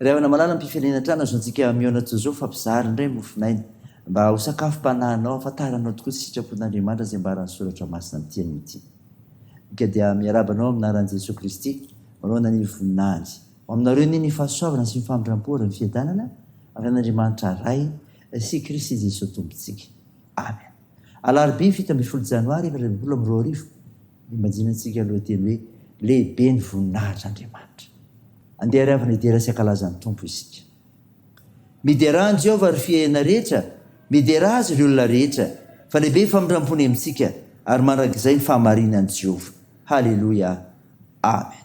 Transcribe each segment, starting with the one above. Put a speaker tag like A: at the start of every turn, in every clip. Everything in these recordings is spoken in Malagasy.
A: Ry havana malala mpifelina trano azo antsika mihaona toy izao fa mpizara indray mofonaina mba ho sakafom-panahinao hafantaranao tokoa ny sitrapon'Andriamanitra izay ambaran'ny soratra masina ny teniny ity ika dia miarahaba anao amin'ny anaran'i Jesoa Kristy manohana ny voninahiny ho aminareo anie ny fahasoavana sy ny famindrampo ary ny fiadanana avy amin'Andriamanitra Ray sy Kristy Jesoa Tompontsika Amen Alarobia fito ambin'ny folo Janoary efatra ambin'ny folo amby roa arivo Imagine antsika aloha teny hoe lehibe ny voninahitr' Andriamanitra. Andeha ary avana hidera sy hankalaza ny Tompo isika. Miderà an'i Jehovah ry fiahiana rehetra, miderà Azy ry olona rehetra, fa lehibe ny famindram-pony amintsika, ary mandrakizay ny fahamarinan'i Jehovah. Haleloia! Amen.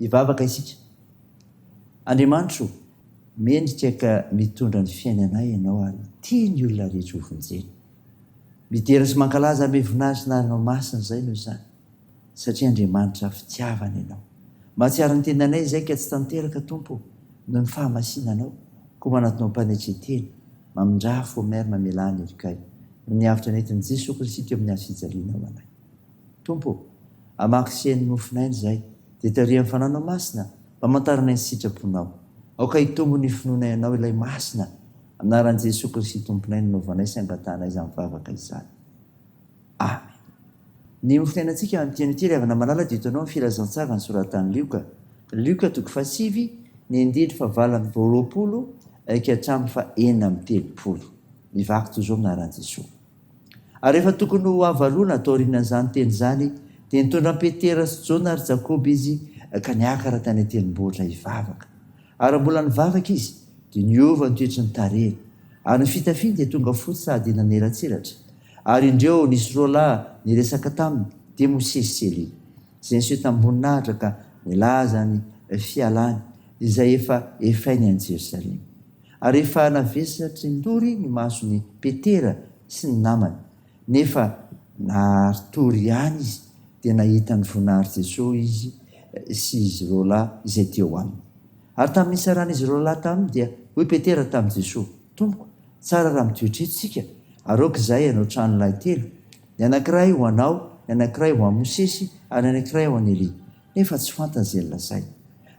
A: Hivavaka isika. Andriamanitra o, mendrika ka mitondra ny fiainana Ianao ary tia ny olona rehetra hovonjena. Midera sy mankalaza amin'ny Voninahitry ny Anarana Masina izay noho izany, satria Andriamanitra fitiavana Ianao. Mahatsiaro ny tendanay izay ka tsy tanteraka, Tompo o, noho ny fahamasinanao, koa manatona ho mpanetren-tena, mamindrafo, Omer, mamelà ny helikay, noho ny avotra nentin'i Jesoa Kristy teo amin'ny hazofijalianao anay. Tompo ô, hamaky sy heno ny mofon'aina izahay, dia tarihan'ny Fanahinao Masina mpamantaranay ny sitraponao. Aoka hitombo ny finoanay Anao, Ilay Masina. Amin'ny anaran'i Jesoa Kristy Tomponay no anaovanay sy angatahanay izany vavaka izany. Amen. Ny mofon'ainantsika amin'ity andro ity, ry havana malala, dia hitanao ny filazantsara nosoratan'i Lioka, Lioka toko fahasivy, ny andininy fahavalo amby roapolo ka hatramin'ny fahenina amby telopolo. Mivaky toy izao amin'ny anaran'i Jesoa. Ary rehefa tokony ho havaroana taorian'izany teny izany, dia nitondra an'i Petera sy Jona ary Jakoba izy ka niakatra tany an-tendrombohitra hivavaka. Ary raha mbola nivavaka izy, dia niova ny toetry ny tarehiny, ary ny fitafiany dia tonga fotsy sady nanelatsiratra. Ary indreo, nisy roa lahy niresaka taminy, dia Mosesy sy Elia, izay niseho tamim-boninahitra ka nilaza ny fialany izay efa efainy any Jerosalema. Ary efa navesatrin-dory ny mason'i Petera sy ny namany, nefa nari-tory ihany izy, dia nahita ny voninahitry Jesoa izy sy izy ireo lahy izay teo aminy. Ary tamin'ny nisaran'izy ireo lahy taminy dia hoy Petera tamin'i Jesoa, Tompoko, tsara raha mitoetra eto isika, ary aoka izahay hanao tranolahy telo, ny anankiray ho anao, ny anankiray ho an'i Mosesy, ary ny anankiray ho an'i Elia. Nefa tsy fantany izay nolazainy.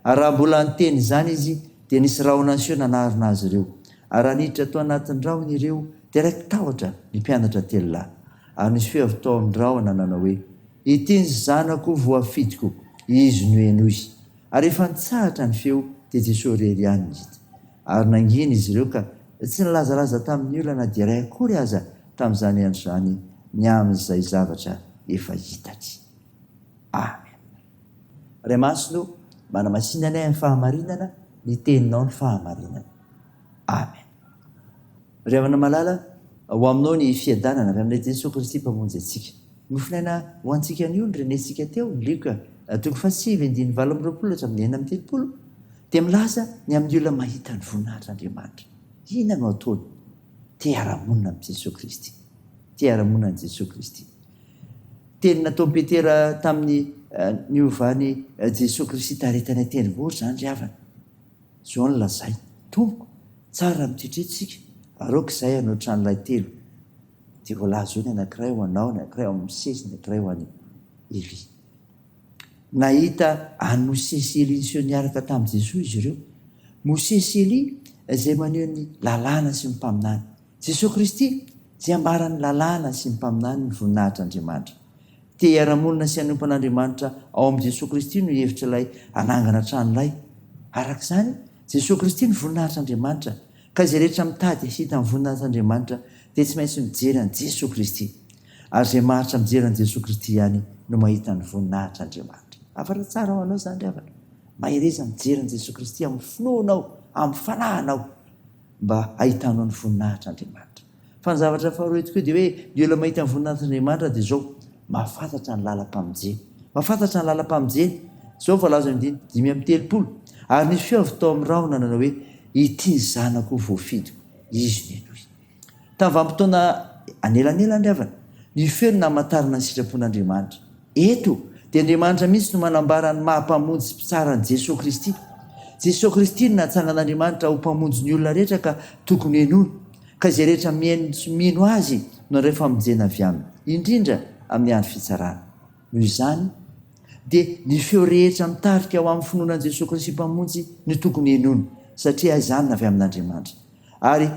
A: Ary raha mbola niteny izany izy, dia nisy rahona niseho nanarona azy ireo. Ary raha niditra tao anatin'ny rahona ireo, dia raiki-tahotra ny mpianatra telo lahy. Ary nisy feo avy tao amin'ny rahona nanao hoe, Ity ny Zanako voafidiko, Izy no henoy. Ary efa nitsahatra ny feo, dia Jesoa irery ihany no hita. Ary nangina izy ireo ka tsy nilazalaza tamin'ny olona na dia iray akory aza tamin'izany andro izany ny amin'izay zavatra efa hitany. Amen. Ray Masina o, manamasina anay amin'ny fahamarinana, ny Teninao no fahamarinana. Amen. Ry havana malala, ho Aminao ny fiadanana, avy amin'ilay Jesoa Kristy Mpamonjy antsika. Nofinaina ho antsika anio ny renentsika teo, Luc, toko fahasivy andininy valo amby roapolo hatramin'ny enina amby telopolo, dia milaza ny amin'ny olona mahita ny voninahitr'Andriamanitra. Inona no ataony? Te hiara-monina amin'i Jesoa Kristy. Te hiara-monina amin'i Jesoa Kristy. Teny nataon'i Petera tamin'ny niovan'i Jesoa Kristy tarehy tany an-tendrombohitra izany ry havana. Izao no lazainy, Tompoko, tsara ny tritrintsika, aroako izahay hanao tranolahy telo, dia voalaza eo ny anankiray ho anao, ny anankiray ho an'i Mosesy, ny anankiray ho an'i Elia. Nahita an'i Mosesy sy Elia niseho niaraka tamin'i Jesoa izy ireo. Mosesy sy Elia izay maneho ny Lalàna sy ny Mpaminany. Jesoa Kristy, izay ambaran'ny lalàna sy ny mpaminany ny voninahitr'Andriamanitra. Te hiara-monina sy hanompo an'Andriamanitra ao amin'i Jesoa Kristy no hevitra ilay hanangana trano lay. Araka izany, Jesoa Kristy no voninahitr'Andriamanitra, ka izay rehetra mitady hahita ny voninahitr'Andriamanitra dia tsy maintsy mijery an'i Jesoa Kristy. Ary izay maharitra mijery an'i Jesoa Kristy ihany no mahita ny voninahitr'Andriamanitra. Afara tsara ho anao izany ry havana. Mahereza mijery an'i Jesoa Kristy amin'ny finoanao, amin'ny fananao. mba hahitanao ny voninahitr'Andriamanitra. Fa ny zavatra faharoa eto koa dia hoe ny olona mahita ny voninahitr'Andriamanitra dia izao, mahafantatra ny lalam-pamonjeny. Mahafantatra ny lalam-pamonjeny. Izao ny voalazan'ny andininy dimy amby telopolo, Ary nisy feo avy tao amin'ny rahona nanao hoe, Ity ny Zanako voafidiko, Izy no henoy. Tamin'ny vanim-potoana anelanelan'ny Ravina, ny feo no namantarana ny sitrapon'Andriamanitra. Eto dia Andriamanitra mihitsy no manambara ny maha Mpamonjy sy Mpitsara an'i Jesoa Kristy. Jesoa Kristy no natsangan'Andriamanitra ho Mpamonjy ny olona rehetra ka tokony henoina, ka izay rehetra mihaino sy mino Azy no handray famonjena avy Aminy, indrindra amin'ny andro fitsarana. Noho izany, dia ny feo rehetra mitarika ho amin'ny finoana an'i Jesoa Kristy Mpamonjy no tokony henoina, satria izany no avy amin'Andriamanitra. Ary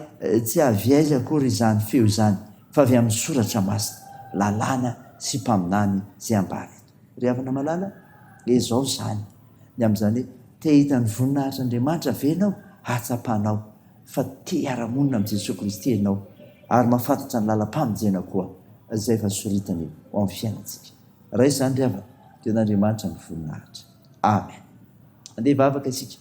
A: tsy avy aiza akory izany feo izany fa avy amin'ny soratra masina, lalàna sy mpaminany izay ambara eto. Ry havana malala, izao izany ny amin'izany hoe, te hahita ny voninahitr'Andriamanitra ve ianao? Ahatsapanao fa te hiara-monina amin'i Jesoa Kristy ianao ary mahafantatra ny lalam-pamonjena koa izay efa soritany ho amin'ny fiainantsika. Raha izany ry havana dia an'Andriamanitra ny voninahitra. Amen. Andeha hivavaka isika.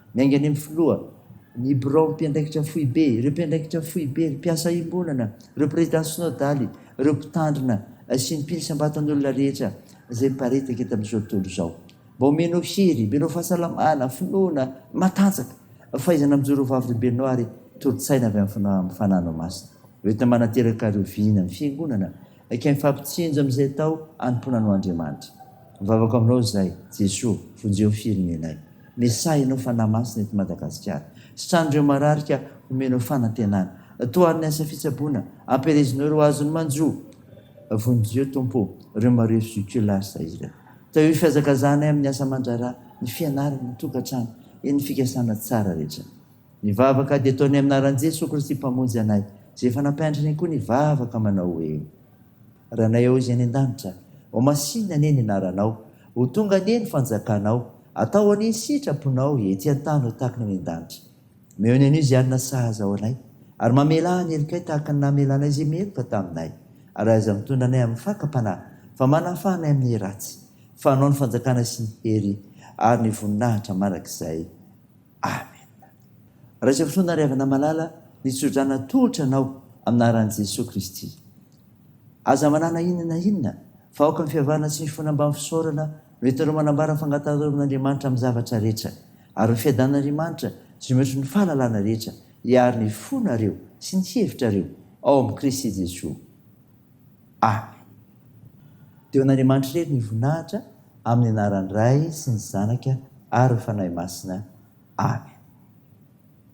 A: Miainga any amin'ny filoha, ny biraon'ny mpiandraikitra foibe, ireo mpiandraikitra foibe, ireo mpiasa iombonana, ireo prezidà sinodaly, ireo mpitandrina sy ny mpily isam-batan'olona rehetra izay miparitaka eto amin'izao tontolo izao. Mba omenao hery, omenao fahasalamana, finoana, matanjaka, fahaizana mijoro ho Vavorombenao ary toro-tsaina avy amin'ny fananao masina. Hoentina manateraka ary oviana ny Fiangonana Ekeny fa mpitsinjo amin'izay atao anompoana anao Andriamanitra. Mivavaka aminao izahay, Jesoa, vonjeo firenenay. Mesahy ianao Fanahy Masina eto Madagasikara. Sitran'ireo marary ka homenao fanantenana. Toharo ny asa fitsaboana, ampielezinao ireo azony manjo. Vonjeo Tompo ireo marefo juculaires ireo. Tahio ny fihazakazahanay amin'ny asa aman-draharaha, ny fianarana, ny tokantrano, eny ny fikasana tsara rehetra. Ny vavaka dia ataonay amin'ny anaran'i Jesoa Kristy Mpamonjy anay, izay efa nampianatra anay koa ny vavaka manao hoe, Ranay ao izay any an-danitra, ho masìna anie ny anaranao, ho tonga anie ny fanjakanao, atao anie ny sitraponao ety an-tany ho tahaka ny any an-danitra. Omeo ny anio izay hanina sahaza ho anay, ary mamelà ny helokay tahaka ny namelanay izay meloka taminay, ary aza mitondra anay amin'ny fakam-panahy, fa manafaha anay amin'ny ratsy, fa anao ny fanjakana sy ny hery ary ny voninahitra mandrakizay. Amen. Raiso fo nariavana malala ny tsodrana tolotra anao aminaran'i Jesoa Kristy. Aza manana inona na inona fa aoka ny fiavahana tsy mifona mbamin'ny fisaorana no entinao manambara ny fangataharovin'Andriamanitra amin'ny zavatra rehetra ary ny fiadanan'Andriamanitra sy ny ohatry ny fahalalana rehetra hiaro ny fonareo sy ny hevitrareo ao amin'i Kristy Jesoa. Amen. Dia ho an'Andriamanitra irery ny voninahitra amin'ny anaran'ny Ray sy ny Zanaka ary ny Fanahy Masina. Amen.